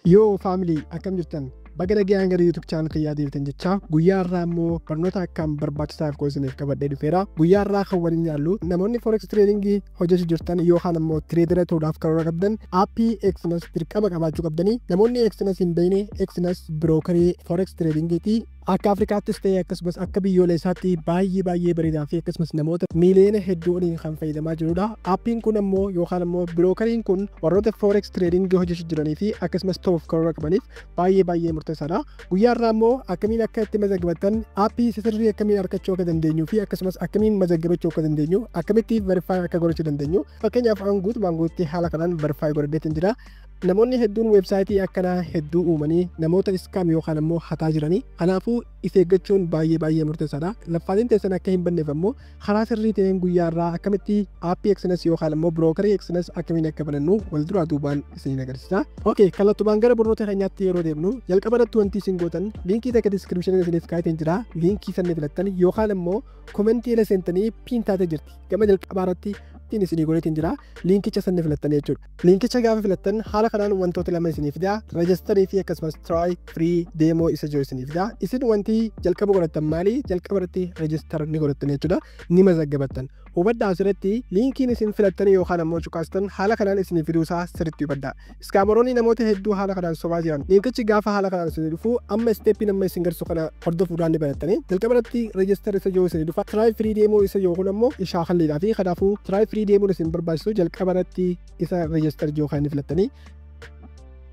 Yoo family akkam jirtan baga nagayaan gara YouTube channel kiyyaa deebitan jechaa guyyaa irraa immoo barnoota akkaan barbaachisaaf koo isiniif qabadhee dhufeera guyyaa irraa kan waliin ilaallu namoonni forex trading hojjechuu jirtan yookaan immoo tireedara ta'uudhaaf karoora qabdan aappii Exness dirqama qabaachuu qabdanii namoonni Exness hin beekne Exness birookarii forex trading ti Akka Afrikaattis ta'ee akkasumas akka biyyooleessaatti baay'ee baay'ee bareedaa fi akkasumas namoota miiliyoona hedduu oliin kan fayyadamaa jirudha. Aappiin kun ammoo yookaan ammoo birookariin kun warroota forex trading hojjechuu jiranii fi akkasumas ta'uuf karoora qabaniif baay'ee baay'ee murteessaadha. Guyyaa irraa ammoo akkamiin akka itti mazagabatan aappii isa sirrii akkamiin argachuu akka dandeenyu fi akkasumas akkamiin mazagabachuu akka dandeenyu akkamitti verify akka godhachuu dandeenyu fakkeenyaaf an guutumaan guutti haala kanaan verify godhadheetiin jira. Namoonni hedduun website akkanaa hedduu uumanii namoota scam yookaan ammoo hataa jiranii kanaafuu if eeggachuun baay'ee baay'ee murteessaadha. Laffaatiin teessan akka hin banneef ammoo karaa sirrii ta'een guyyaa irraa akkamitti aappii Exness yookaan ammoo brookerii Exness akkamiin akka banannu wal duraa duubaan isiniin agarsiisa. Ok kallattumaan gara barnoota keenyaatti yeroo deemnu jalqaba irratti wanti isin gootan liinkii takka description isiniif kaa'eetiin jira liinkii sanni filattan yookaan ammoo komentii ila seentanii piin taatee jirti gama jalqabaa irratti piin isinii godheetiin jira liinkicha sanni filattan jechuudha. Linkicha gaafa filattan haala kanaan wantoota lama isinii fida register fi akkasumas try free demo isa jiru isinii fida isin wanti jalqaba godhattan maali jalqaba irratti register ni godhattan jechuudha ni mazaggabattan hubadhaa asirratti linkiin isin filattan yookaan ammoo cuqaastan haala kanaan isinii fiduu isaa sirriitti hubadhaa iskaamaroonni namoota hedduu haala kanaan sobaa jiran linkichi gaafa haala kanaan isinii dhufu amma isteeppiin amma isin garsu kana hordofuudhaan ni barattanii jalqaba irratti reejistar isa yoo isin dhufa tiraay firii deemuu isa yookuun ammoo ishaa kalliidhaa fi kanaafuu tiraay firii deemuun isin barbaachisu jalqaba irratti isa reejistar yoo kan filattanii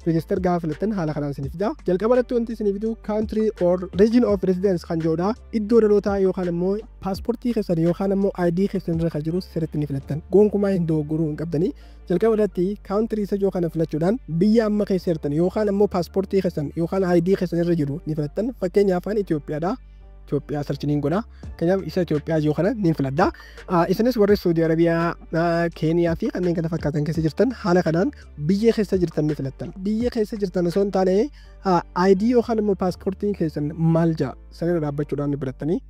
reejistar gaafa filattan haala kanaan isin fida jalqaba irratti wanti isin fidu kaantirii or region of residence kan jedhudha iddoo dhalootaa yookaan ammoo paaspoortii keessan yookaan ammoo ID keessan irra kan jiru sirriitti ni filattan gonkumaa hin dogoggoruu hin qabdanii Jalqaba irratti country isa ijoo kana filachuudhaan biyya amma keessa jirtan yookaan ammoo paaspoortii keessan yookaan ID keessan irra jiru ni filattan. Fakkeenyaaf ani Itoophiyaadha. Itoophiyaa search niin godha. Kanaaf isa Itoophiyaa ijoo kana niin filadha. Ah, Isinis warri Saudi Arabiyaa, ah, Keeniyaa fi kanneen kana fakkaatan keessa jirtan haala kanaan biyya keessa jirtan ni filattan. Biyya keessa jirtan osoo hin taane ah, ID yookaan immoo paaspoortiin keessan maal ja'a sanirra dhaabbachuudhaan ni filattanii.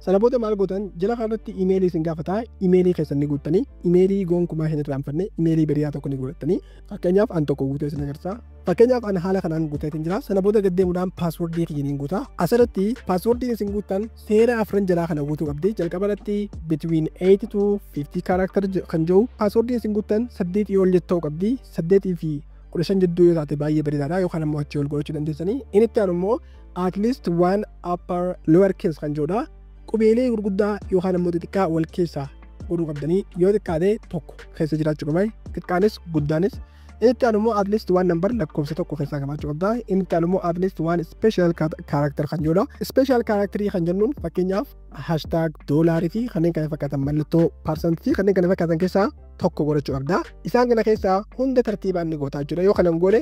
Sana booda maal gootan jala kanarratti imeelii isin gaafata imeelii keessan ni guuttanii imeelii gonkumaa hin irraanfanne imeelii beriyaa tokko ni guuttanii fakkeenyaaf an tokko guutee isin agarsiisa fakkeenyaaf an haala kanaan guuteetiin jira sana booda gad deemuudhaan paaswordii kiyyaniin guuta asirratti paaswordiin isin guuttan seera afran jalaa kana guutuu qabdi jalqaba irratti between 8 to 50 character kan jiru paaswordiin isin guuttan 8 yoo ol jettu ta'uu qabdi 8 fi 15 jidduu yoo taate baay'ee bareedaadha yookaan ammoo achii ol godhachuu dandeessanii inni itti aanu immoo at least one upper lower case kan jedhudha. Qubeelee gurguddaa yookaan ammoo xixiqqaa wal keessaa godhuu qabdanii yoo xiqqaate tokko keessa jiraachuu qaba. Xiqqaanis guddaanis inni itti aanu immoo at least one number lakkoofsa tokko keessaa qabaachuu qabda. Inni itti aanu immoo at least one special character kan jedhudha. Special character kan jennuun fakkeenyaaf hashtag doolaarii fi kanneen kana fakkaatan mallattoo parsantii fi kanneen kana fakkaatan keessaa tokko godhachuu qabda. Isaan kana keessaa hunda tartiibaan ni gootaa jechuudha. Yoo kana hin goone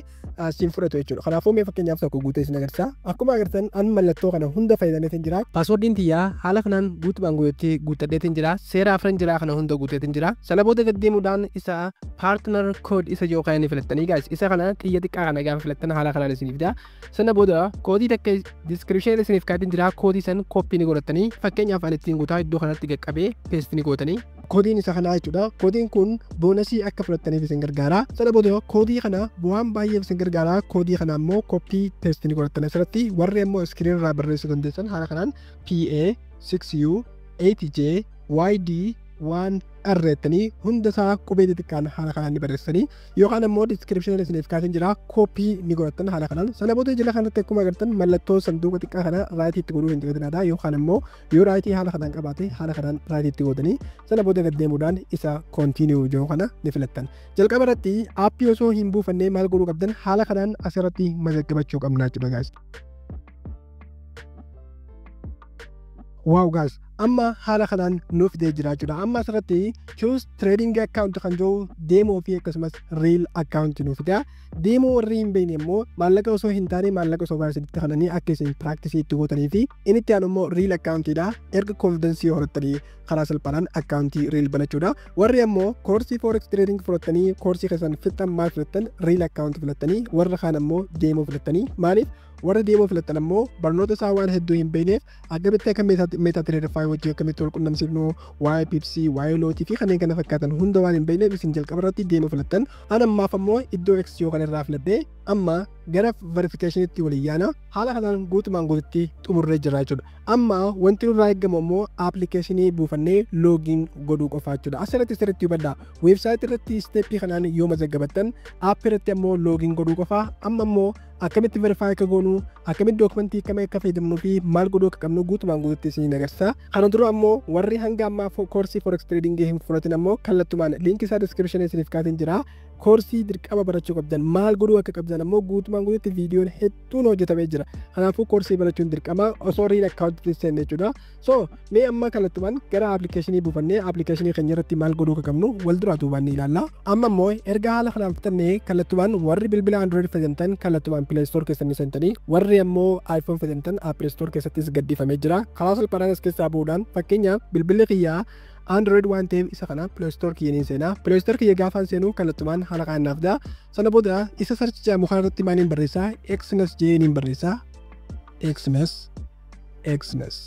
siin fudhatu jechuudha. Kanaafuu mee fakkeenyaaf tokko guutee isin agarsiisa. Akkuma agartan an mallattoo kana hunda fayyadameetiin jira. Paaswoordiin tiyyaa haala kanaan guutumaan guutetti guuttadheetiin jira. Seera afran jiraa kana hunda guuteetiin jira. Sana booda gaddeemuudhaan isa paartnar kood isa jiru kana ni filattanii gaas. Isa kana xiyya xiqqaa kana gaafa filattan haala kanaan isiniif fida. Sana booda koodii takka diskiripshinii isiniif kaatiin jira. Koodii san kooppii ni godhattanii fakkeenyaaf an ittiin guutaa iddoo kanatti qaqqabee peestii ni gootanii. Koodiin isa kanaa jechuudha. Koodiin kun boonasii akka fudhattaniif isin gargaara. Sana booda koodii kana waan baay'eef isin gargaara. Koodii kana immoo koppii teestii ni godhattan asirratti. Warri immoo iskiriin irraa barreessuu dandeessan haala kanaan PA 6U 8J YD 1R jettanii hunda isaa qubee xixiqqaan haala kanaan ni barreessanii yookaan immoo diskiripshiniin isiniif kaasee jira koppii ni godhattan haala kanaan sana booda jala kanatti akkuma agartan mallattoo sanduuqa xiqqaa kana raayitii itti godhuu hin dagatinaa yookaan immoo Yoo raayitii haala kanaan qabaate haala kanaan raayitii itti gootanii sana booda gad deemuudhaan isa continue jedhu kana ni filattan. Jalqaba irratti aappii osoo hin buufannee maal godhuu qabdan haala kanaan asirratti mazaggabachuu qabna jechuudha gaas. Waaw gaas amma haala kanaan nuuf fidee jira jechuudha. Amma asirratti choose trading account kan jiru deemoo fi akkasumas real account nuuf fida. Deemoo warri hin beekne immoo maallaqa osoo hin taane maallaqa osoo baasanitti kananii akka isin practice itti gootanii fi Inni itti aanu immoo riil akkaawuntiidha. Erga konfidansii horattanii karaa salphaadhaan akkaawuntii riil banachuudha. Warri ammoo koorsii forex trading fudhattanii koorsii keessan fixxan maal filattan riil akkaawunti filattanii warra kaan ammoo deemuu filattanii maaliif warri deemuu filattan ammoo barnoota isaa waan hedduu hin beekneef akkamitti akka meetaa tireedifaa wajjin akkamitti wal qunnamsiifnu waa'ee pipsii waa'ee lootii fi kanneen kana fakkaatan hunda waan hin beekneef isin jalqaba irratti deemuu filattan an ammaaf ammoo iddoo eksiiyoo kan irraa filadhee amma gara verification tti waliin yaana. Haala kanaan guutumaan guututti xumurree jirra jechuudha. Amma wanti nurraa eegamu ammoo application buufannee login godhuu qofaa jechuudha. Asirratti sirriitti hubadhaa. Website irratti step kanaan yoo mazaggabattan app irratti ammoo login godhuu qofaa. Amma ammoo akkamitti verify akka goonu akkamitti dookumentii akkamii akka fayyadamnuu fi maal godhuu akka qabnu guutumaan guututti isin agarsiisa. Kana dura ammoo warri hanga ammaa koorsii forex trading hin fudhatin ammoo kallattumaan liinkii isaa description isiniif kaa'een jira. koorsii dirqama barachuu qabdan maal godhuu akka qabdan ammoo guutumaan guututti viidiyoon hedduun hojjetamee jira kanaafuu koorsii barachuun dirqama osoo riil akkaawuntitti seenne jechuudha so mee amma kallattumaan gara appilikeeshinii buufannee appilikeeshinii keenya irratti maal godhuu akka qabnu wal duraa duubaan ni ilaalla amma immoo erga haala kanaan fixannee kallattumaan warri bilbila android fayyadamtan kallattumaan play store keessanii seentanii warri ammoo iphone fayyadamtan apple store keessattis gadhiifamee jira karaa salphaadhaan as keessaa bu'uudhaan fakkeenyaaf bilbilli kiyyaa Android waan ta'eef isa kana Play Store kiyya niin seenaa. Play Store kiyya gaafaan seenuu kallattumaan haala kanaan naaf da'a. Sana booda isa search jedhamu kana irratti maaliin barreessaa? Xmas jedhee niin barreessaa. Xmas Xmas.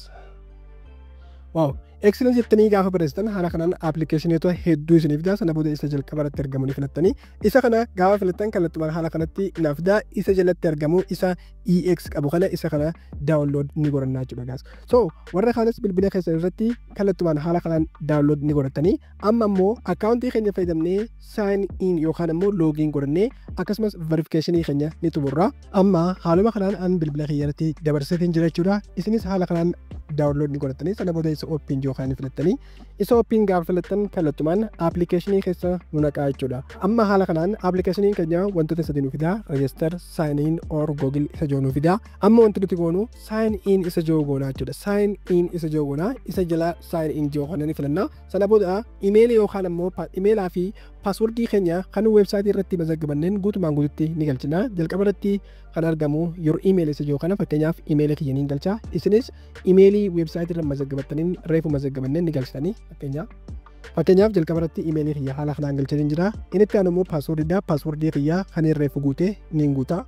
Waaw! Xmas jettanii gaafa barreessitan haala kanaan appilikeeshinoota hedduu isiniif fida. Sana booda isa jalqaba irratti argamu ni filattanii. Isa kana gaafa filattan kallattumaan haala kanatti naaf da'a. Isa jalatti argamu isa EX qabu kana isa kana download ni godhanna jechuudha gaas. So warra kaanis bilbila keessan irratti kallattumaan haala kanaan download ni godhattanii amma immoo akkaawuntii keenya fayyadamnee sign in yookaan immoo login godhannee akkasumas verification keenya ni xumurra. Amma haaluma kanaan an bilbila kiyya irratti dabarseetiin jira jechuudha. Isinis haala kanaan download ni godhattanii sana booda isa open yookaan filattanii isa oppiin gaafa filattan kallattumaan appilikeeshinii keessa nu naqaa jechuudha. Amma haala kanaan appilikeeshiniin keenya wantoota sadii nu fidaa register, sign in or google isa jiru nu fidaa. Amma wanti nuti goonu sign in isa jiru goonaa jechuudha. Sign in isa jiru goonaa isa jala sign in jiru kana ni filanna. Sana booda imeelii yookaan ammoo imeelaa fi paaswordii keenya kan weebsaayitii irratti mazaggabanneen guutumaan guututti ni galchina. Jalqaba irratti kan argamu your email isa jiru kana fakkeenyaaf imeela kiyya niin galcha isinis imeelii weebsaayitii irra mazaggabattaniin reefu mazaggabanneen ni galchitanii fakkeenyaaf fakkeenyaaf jalqaba irratti imeelii kiyya haala kanaan galchanii jira inni itti aanu immoo paaswordidha paaswordii kiyya kan reefu guute niin guuta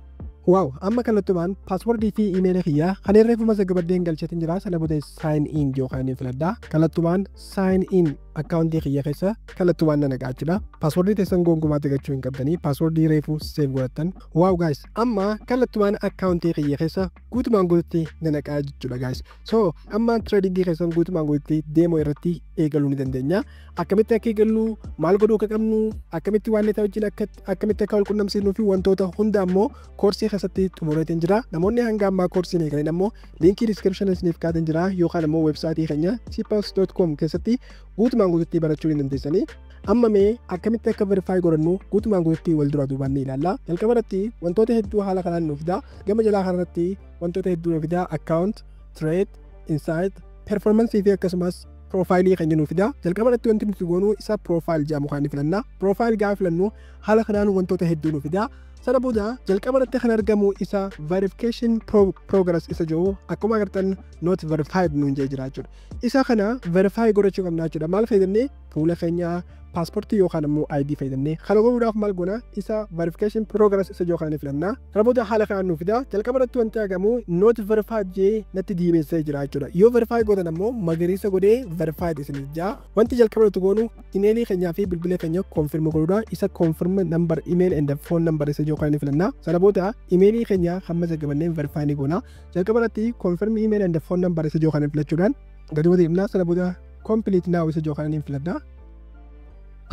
waaw amma kallattumaan paaswordii fi imeelii kiyya kan reefu mazaggabadheen galchatiin jira sana booda saayin in yoo kan inni filadha kallattumaan saayin in akkaawuntii kiyya keessa kallattumaan na naqaa jechuudha paaswordii teessan gonkumaa dagachuu hin qabdanii paaswordii reefu seef godhattan Wow guys amma kallattumaan akkaawuntii kiyya keessa guutumaan guututti na naqaa jechuudha guys so amma trading keessan guutumaan guututti deemoo irratti eegaluu ni dandeenya akkamitti akka eegallu maal godhuu akka qabnu akkamitti waan leetaa wajjin akka akkamitti akka wal qunnamsiisnuu fi wantoota hunda ammoo koorsii keessatti xumureetiin jira namoonni hanga ammaa koorsii hin eegaleen ammoo liinkii description isiniif kaa'een jira yookaan ammoo websaayitii keenya cpas.com keessatti guutumaan guututti barachuu ni dandeessanii Amma mee akkamitti akka verify godhannu guutumaan guututti wal dura duubaan ni ilaalla. Jalqaba irratti wantoota hedduu haala kanaan nuuf fidaa. Gama jalaa kana irratti wantoota hedduu nuuf fidaa account, trade, insight, performance fi akkasumas profile kan jennu fidaa. Jalqaba irratti wanti nuti goonu isa profile jedhamu kan filanna. Profile gaafa filannu haala kanaan wantoota hedduu nuuf fidaa. Sana booda jalqaba irratti kan argamu isa verification pro- progress isa jedhu akkuma agartan not verified nuun jee jira jechuudha. Isa kana verify godhachuu qabna jechuudha. Maal fayyadamnee fuula keenya paaspoortii yookaan immoo ID fayyadamnee kana godhuudhaaf maal goona isa verification progress isa jiru kana ni filanna kana booda haala kanaan nu fida jalqaba irratti wanti argamu not verified jee natti diimessee jira jechuudha yoo verify gootan ammoo magariisa godhee verified isin jaa wanti jalqaba irratti goonu imeelii keenyaa fi bilbila keenya confirm godhuudha isa confirm number email and phone number isa jiru kana ni filanna sana booda imeelii keenya hamma jalqabannee verify ni goona jalqaba irratti confirm email and phone number isa jiru kana filachuudhaan gadi bu'ee deemnaa sana booda complete now isa jiru kana niin filadha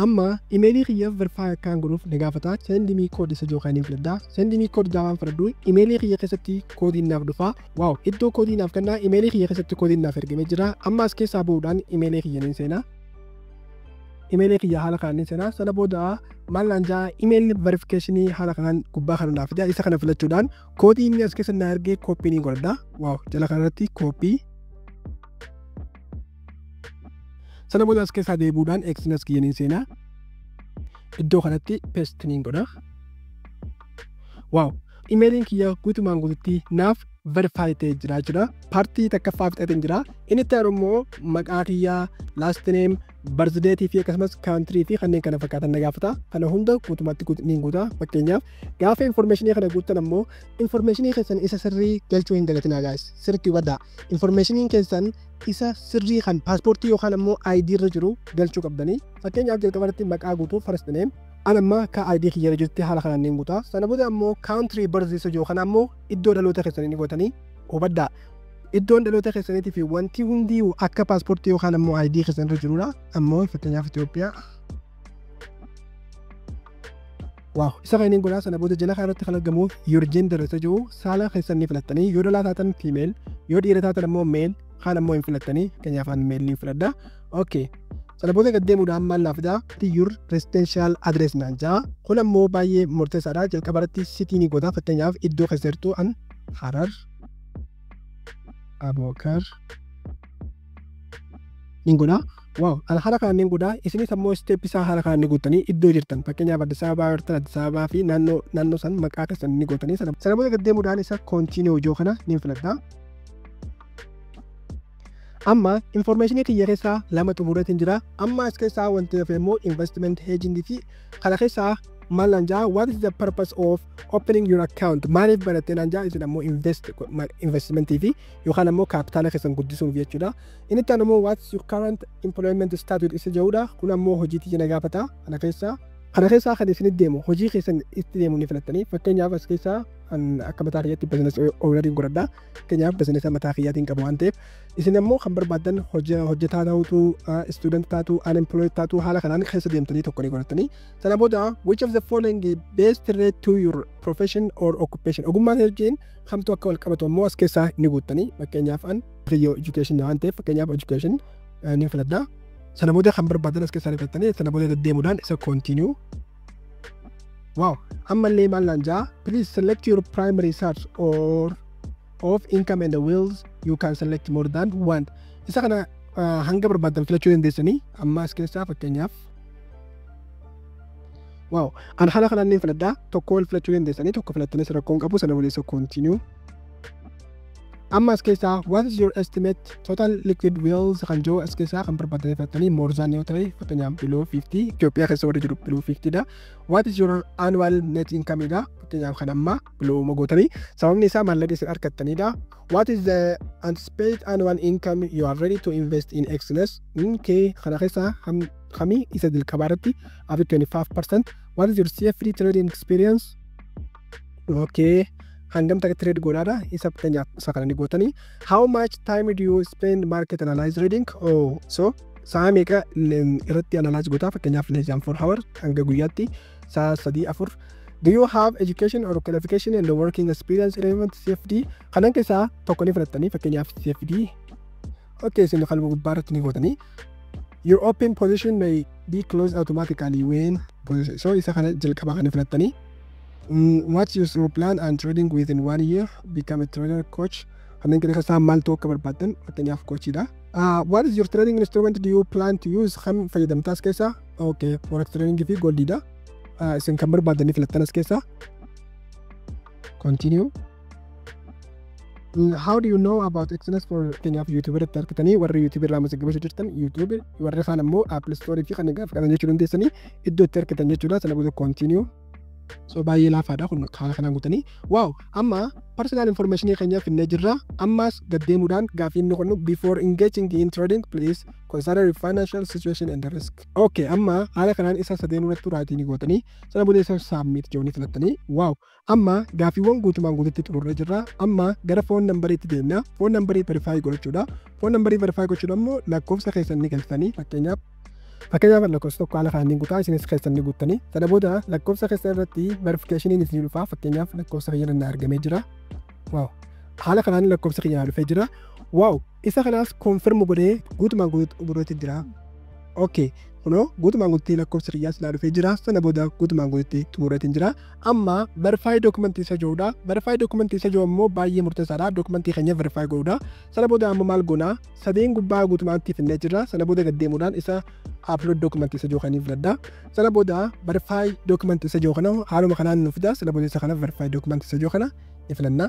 amma imeelii kiyya verify akkaan godhuuf na gaafata send me code isa jiru kana niin filadha send me code gaafaan filadhu imeelii kiyya keessatti koodiin naaf dhufa waaw iddoo koodii naaf kennaa imeelii kiyya keessatti koodiin naaf ergamee jira amma as keessaa ba'uudhaan imeelii kiyya niin seenaa imeelii kiyya haala kanaan niin seenaa sana booda maal naan ja'a imeelii verifikeeshinii haala kanaan gubbaa kana naaf fida isa kana filachuudhaan koodii inni as keessa na ergee kooppii niin godhadha waaw jala kanarratti kooppii sana booda as keessaa deebuudhaan eksinas kiyyaniin seenaa iddoo kanatti pestiniin godha waaw imeeliin kiyya guutumaan guututti naaf verifaayi ta'e jira jechuudha paartii takkaffaa fixateen jira inni itti aanu immoo maqaa kiyyaa laastineem barzideetii fi akkasumas kaantirii fi kanneen kana fakkaatan na gaafata kana hunda guutumatti guutumaan guuta fakkeenyaaf gaafa informeeshinii kana guutan ammoo Information keessan isa sirrii galchuu hin dagatinaa guys. Sirriitti hubadhaa. Information keessan isa sirrii kan paaspoortii yookaan ammoo ID irra jiru galchuu qabdanii. Fakkeenyaaf jalqaba irratti maqaa guutuu first name. An amma ka ID kiyya irra jirti haala kanaan niin guutaa. Sana booda ammoo country birth isa jiru kana ammoo iddoo dhaloota keessanii ni gootanii hubadhaa. Iddoon dhaloota keessaniitii fi wanti hundi akka paaspoortii yookaan ammoo ID keessan irra jirudha. Ammoo fakkeenyaaf Itoophiyaa Waaw isa kanin godhaa sana booda jala kanarratti kan argamu your gender isa jiru saala keessan ni filattanii yoo dhalaa taatan female yoo dhiira taatan ammoo male kaan ammoo hin filattanii fakkeenyaaf an male ni filadha okay sana booda gad deemuudhaan maal naaf fidaa your residential address naan jaa kun ammoo baay'ee murteessaadha jalqaba irratti sitii ni godha fakkeenyaaf iddoo keessa jirtu an harar abokar nin godhaa waaw an haala kanaan nin godhaa isinis ammoo isteep isaa haala kanaan ni guuttanii iddoo jirtan fakkeenyaaf Addis Ababaa jirtan Addis Ababaa fi naannoo naannoo san maqaa keessan ni gootanii sana sana booda gad deemuudhaan isa koontiinii hojii kana nin filadhaa amma informeeshinii kiyya keessaa lama xumureetiin jira amma as keessaa wanti hafe immoo investment hedging fi kana keessaa maal naan jaa what is the purpose of opening your account maaliif barattee naan jaa isin ammoo invest investment fi yookaan ammoo kaapitaala keessan guddisuuf jechuudha. Inni itti aanu immoo what's your current employment status isa jedhudha. Kun ammoo hojii tiyya na gaafata kana keessaa. Kana keessaa kan isin deemu hojii keessan itti deemu ni filattanii fakkeenyaaf as keessaa kan akka mataa kiyyaatti bizinees oolariin godhadha. Fakkeenyaaf bizineesa mataa kiyyaatiin qabu waan ta'eef isin ammoo kan barbaaddan hojja- hojjetaa ta'utu istuudent taatu unemployed taatu haala kanaan keessa deemtanii tokko ni godhattanii. Sana booda which of the following best relate to your profession or occupation ogummaa kee wajjin kamtu akka wal qabatu ammoo as keessaa ni guuttanii fakkeenyaaf an kiyyoo education waan ta'eef fakkeenyaaf education eh, ni filadha. Sana booda kan barbaadan as keessaa ni filattanii sana booda deddeemuudhaan isa continue. Wow! Ammallee maal naan ja'a? Please select your primary source or of income and the wills you can select more than one. Isa kana ah, hanga barbaadan filachuu dandeessanii amma as keessaa fakkeenyaaf Wow. An haala kanaan niin filadha. Tokko wal filachuu dandeessanii tokko filattanis rakkoo hin qabu sana waliisa continue. Amma as keessaa what is your estimate total liquid wheels kan jiru as keessaa kan barbaadanii filattanii more than yoo ta'e fakkeenyaaf below 50 Itoophiyaa keessa warri jiru below 50 dha. What is your annual net income dha fakkeenyaaf kan ammaa below uma gootanii sababni isaa maallaqa isin argattanii dha. What is the anticipated annual income you are ready to invest in excellence? Kee kana keessaa hamii isa jalqabaa irratti After 25%, what is your CFD trading experience? Okay. Hangam takka trade godhaadha isa fakkeenyaaf isa kana ni gootanii how much time do you spend market analyze trading oh so sa'a meeqa irratti analyze gootaa fakkeenyaaf less than 4 hour hanga guyyaatti sa'a 3 4 Do you have education or qualification and working experience relevant CFD? Kanan keessaa tokko ni fudhattanii fakkeenyaaf CFD. Okay, isin kan gubbaarratti ni gootanii you open position may be closed automatically when position so isa kana jalqaba kana filattanii mm, what is your plan and trading within one year become a trader coach kanneen keessa isaa maal ta'uu akka barbaaddan fakkeenyaaf koochiidha uh, what is your trading instrument do you plan to use kan fayyadamtaas keessa okay forex trading fi goldiidha uh, isin kan barbaaddan filattan as keessa continue Mm, How do you know about Exodus for fakkeenyaaf YouTube irratti argitanii warri YouTube irraa masaggabachuu jirtan YouTube warri kaan ammoo Apple Store fi kan gaaf qaban jechuu dandeessanii iddoo itti argitan jechuudha sana booda continue so baay'ee laafaadha kun haala kanaan guutanii waaw amma personal information keenya finnee jirra ammaas gaddeemuudhaan gaaffii inni qonnu before engaging in trading please consider your financial situation and the risk okay amma haala kanaan isa sadeen irratti raatii ni gootanii sana booda isa submit joonii filattanii waaw Amma gaaffiiwwan guutumaan guututti xumurree jirra. Amma gara foon nambariitti deemna. Foon nambarii verifaayi godhachuudha. Foon nambarii verifaayi gochuudha immoo lakkoofsa keessan ni galchitanii fakkeenyaaf Fakkeenyaaf lakkoofsa tokko haala kanaan ni guutaa isinis keessan ni guuttanii. Sana booda lakkoofsa keessan irratti verifikeeshiniin isin dhufaa fakkeenyaaf lakkoofsa kiyya irratti argamee jira. Waaw haala kanaan lakkoofsa kiyya dhufee jira. Waaw Isa kanaas confirm godhee guutumaan guutu- godheetti jira. ok kunoo guutumaan guututti lakkoofsi kiyyaas naa dhufee jira sana booda guutumaan guututti xumureetiin jira amma verify document isa jiruudha verify document isa jiru ammoo baay'ee murteessaadha document keenya verify godhuudha sana booda amma maal goona sadeen gubbaa guutumaatti finnee jira sana booda gad deemuudhaan isa upload document isa jiru kaniif ladda sana booda verify document isa jiru kana haaluma kanaan nu fida sana booda isa kana verify document isa jiru kana ni filanna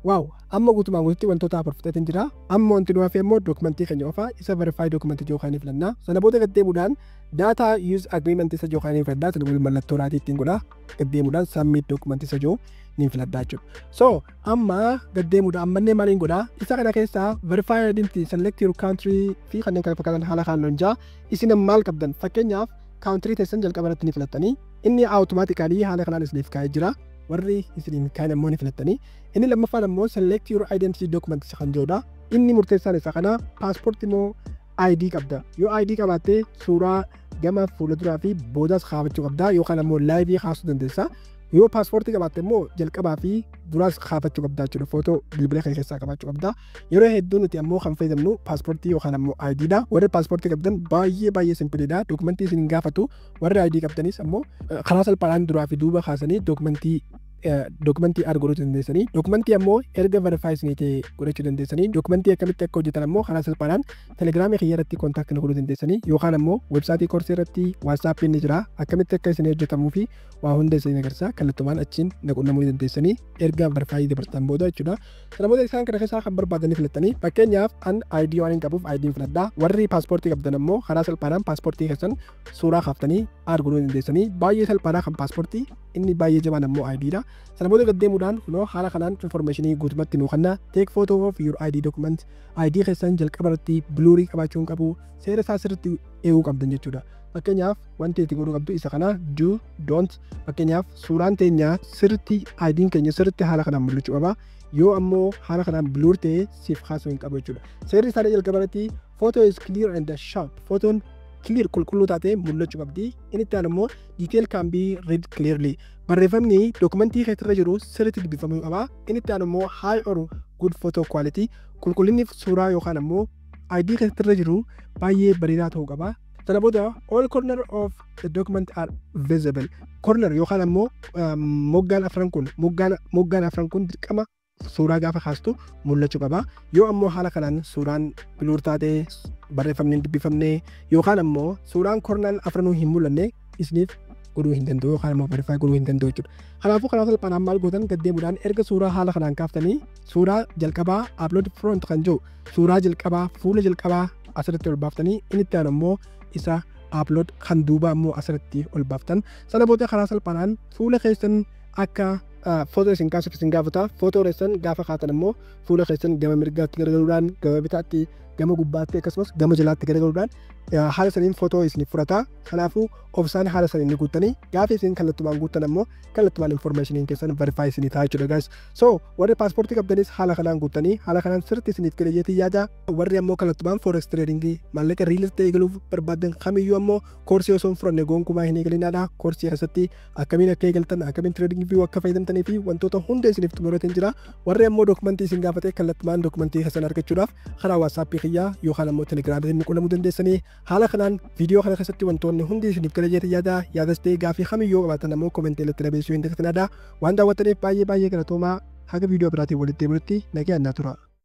waaw Amma guutumaan guututti wantoota afur fixeetiin jira. Amma wanti nu hafe immoo dookumentii keenya qofa isa verify dookumentii jiru kaanii filanna. Sana booda gad deemuudhaan data use agreement isa jiru kaanii filadha. Sana booda mallattoo raatii ittiin godha. Gad deemuudhaan submit dookumentii isa jiru niin filadha jechuudha. So amma gad deemuudha ammannee maaliin godha? Isa kana keessaa verify identity select your country fi kanneen kana fakkaatan haala kaan loon jaa isin maal qabdan fakkeenyaaf country teessan jalqaba irratti ni filattanii inni automatically haala kanaan isiniif kaa'ee jira warri isiniin kaan immoo ni filattanii Inni lammaffaan ammoo select your identity documents kan jedhudha. Inni murteessaan isa kana paaspoortii moo ID qabda. Yoo ID qabaatte suuraa gama fuula duraa fi boodaas kaafachuu qabda yookaan ammoo laayivii kaasuu dandeessa. Yoo paaspoortii qabaatte immoo jalqabaa fi duraas kaafachuu qabda jechuudha. Footoo bilbila kee keessaa qabaachuu qabda. Yeroo hedduu nuti ammoo kan fayyadamnu paaspoortii yookaan ammoo ID dha. Warri paaspoortii qabdan baay'ee baay'ee simpiliidha. Dokumentii isin hin gaafatu. Warri ID qabdanis ammoo karaa salphaadhaan duraa fi duuba kaasanii dokumentii Dokumentii add godhuu dandeessanii dokumentii ammoo erga verify isinii ta'e godhachuu dandeessanii dokumentii akkamitti akka hojjetan ammoo karaa salphaadhaan telegiraamii kiyya irratti kontaakti na godhuu dandeessanii yookaan ammoo websaayitii koorsii irratti waatsaappii ni jira akkamitti akka isinii hojjetamuu fi waa hunda isinii agarsiisa kallattumaan achiin na qunnamuu dandeessanii erga verify dabartan booda jechuudha sana booda isaan kana keessaa kan barbaadanii filattanii fakkeenyaaf an ID waan hin qabuuf ID hin filadha warri paaspoortii qabdan ammoo karaa salphaadhaan paaspoortii keessan suuraa kaaftanii aad godhuu ni dandeessanii baay'ee salphaadha kan paaspoortii inni baay'ee jabaan ammoo ID dha sana booda gad deemuudhaan kunoo haala kanaan information guutumatti nuu kenna take photo of your ID document ID keessan jalqaba irratti biluurii qabaachuu hin qabu seera isaa sirriitti eeguu qabdan jechuudha fakkeenyaaf wanti itti godhuu qabdu isa kana do don't fakkeenyaaf suuraan teenya sirriitti ID'n keenya sirriitti haala kanaan mul'achuu qaba yoo ammoo haala kanaan biluur ta'ee siif kaasuu hin qabu jechuudha seerri isaa jalqaba irratti Photo is clear and sharp. Fotoon clear qulqulluu taatee mul'achuu qabdi. Inni itti aanu immoo detail can be read clearly. Barreeffamni dokumentii keessarra jiru sirriitti dubbifamuu qaba. Inni itti aanu immoo high or good photo quality. Qulqullinni suuraa yookaan ammoo faayilii keessarra jiru baay'ee bareedaa ta'uu qaba. Sana booda all corner of the document are visible. Corner yookaan ammoo moggaan afran kun moggaan afran kun dirqama suuraa gaafa kaastu mul'achuu qaba. Yoo ammoo haala kanaan suuraan biluur taate barreeffamni hin dubbifamne yookaan ammoo suuraan kornaan afranuu hin mul'anne isiniif godhuu hin danda'u yookaan ammoo verify godhuu hin danda'u jechuudha. Kanaafuu karaa salphaadhaan maal gootan gad deemuudhaan erga suuraa haala kanaan kaaftanii suuraa jalqabaa upload front kan jiru suuraa jalqabaa fuula jalqabaa asirratti ol baaftanii inni itti aanu ammoo isa upload kan duubaa ammoo asirratti ol baaftan sana booda karaa salphaadhaan fuula keessan akka footoo isin kaasuuf isin gaafata. Footoo keessan gaafa kaatan immoo fuula keessan gama mirgaatti garagaluudhaan, gama bitaatti, gama gubbaatti akkasumas gama jalaatti garagaluudhaan haala saniin footoo isin fudhata. Kanaafuu obsaan haala saniin ni guuttanii gaafa isin kallattumaan guuttan ammoo kallattumaan informaashiniin keessan verify isinii ta'a jechuudha guys. So warri paaspoortii qabdanis haala kanaan guuttanii haala kanaan sirriitti isiniif kira jeetii yaada. Warri ammoo kallattumaan forex trading maallaqa riil isteetii eegaluuf barbaadan kamiyyuu ammoo koorsii osoo hin fudhanne gonkumaa hin eegalinaadha. Koorsii keessatti akkamiin akka eegaltan akkamiin trading view akka fayyadamtanii fi wantoota hunda isiniif xumurateen jira warri ammoo dokumentii isin gaafate kallattumaan dokumentii keessan argachuudhaaf karaa waatsaappii kiyyaa yookaan ammoo telegiraamiitiin qunnamuu dandeessanii haala kanaan viidiyoo kana keessatti wantoonni hundi isiniif gala jeetii yaada yaadas ta'ee gaafii kamii yoo qabaatan ammoo komentii irratti dabeessuu hin dagatinaa waan daawwattaniif baay'ee baay'ee galatoomaa haga viidiyoo biraatiin walitti deebinutti nagaan naa tura.